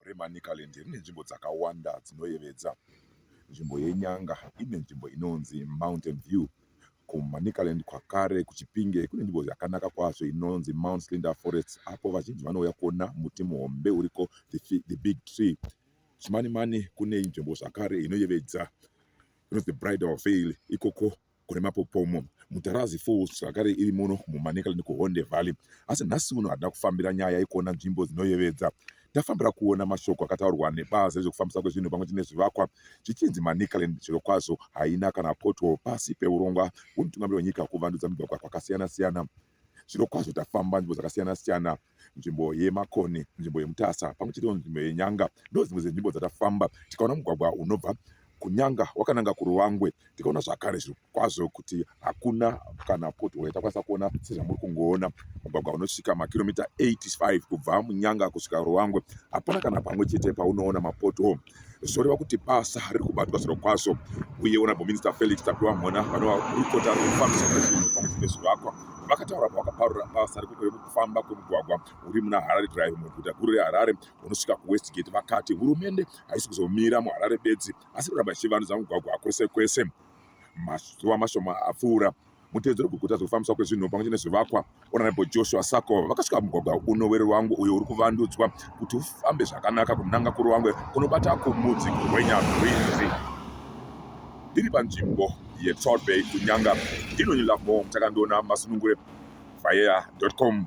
reManicaland rine nzvimbo dzakawanda dzinoyevedza. Nzvimbo yeNyanga ine nzvimbo inonzi Mountain View. KuManicaland kwakare kuChipinge kune nzvimbo yakanaka kwazvo inonzi Mount Slinda Forest apo vazhinji vanouya kuona muti muhombe uriko the big tree. Chimanimani kune nzvimbo zvakare inoyevedza inonzi Bridal Veil ikoko kune mapopomo Mutarazzi Falls zvakare iri muno muManicaland kuHonde Valley asi nhasi uno hatina kufambira nyaya yekuona nzvimbo dzinoyevedza tafambira kuona mashoko akataurwa nebazi rezvekufambisa kwezvinhu pamwe chete nezvivakwa zvichinzi Manicaland zvirokwazvo haina kana pothole pasi peurongwa hwemutungamiri wenyika kuvandudza migwagwa kwakasiyana siyana zviro kwazvo tafamba nzvimbo dzakasiyana siyana nzvimbo yemakoni nzvimbo yemutasa pamwe chete nzvimbo yenyanga ndo dzimwe dzenzvimbo dzatafamba tikaona mugwagwa unobva kunyanga wakananga kuruwangwe tikaona zvakare zviri kwazvo kuti hakuna kana potihole takwanisa kuona sezvamuri kungoona mugwagwa unosvika makiromita 85 kubva munyanga kusvika ruwangwe hapana kana pamwe chete paunoona mapotihole zvoreva kuti basa riri kubatwa zviro kwazvo uye honorable minister felix tapiwa mhona vanova gurukota rekufambisa zvinhu pamwe nezvivakwa vakataura pavakaparura basa rekufamba kwemugwagwa uri muna harare drive muguta guru reharare unosvika kuwestgate vakati hurumende haisi kuzomira muharare bedzi asi kuramba ichivandudza mugwagwa kwese kwese mazuva mashoma apfuura Mutevedzero weguta zvekufambiswa kwezvinhu pamwe chete nezvivakwa, Honorable Joshua Sako vakasvika mugwagwa uno weRuwangwe uyo uri kuvandudzwa kuti ufambe zvakanaka kunanga kuRuwangwe kunobata kumudzi kurwenya rwizi. Ndiri panzvimbo yeTrout Bay kuNyanga, ndino Nilafmo Mutakandiona Masunungure, Vayea.com.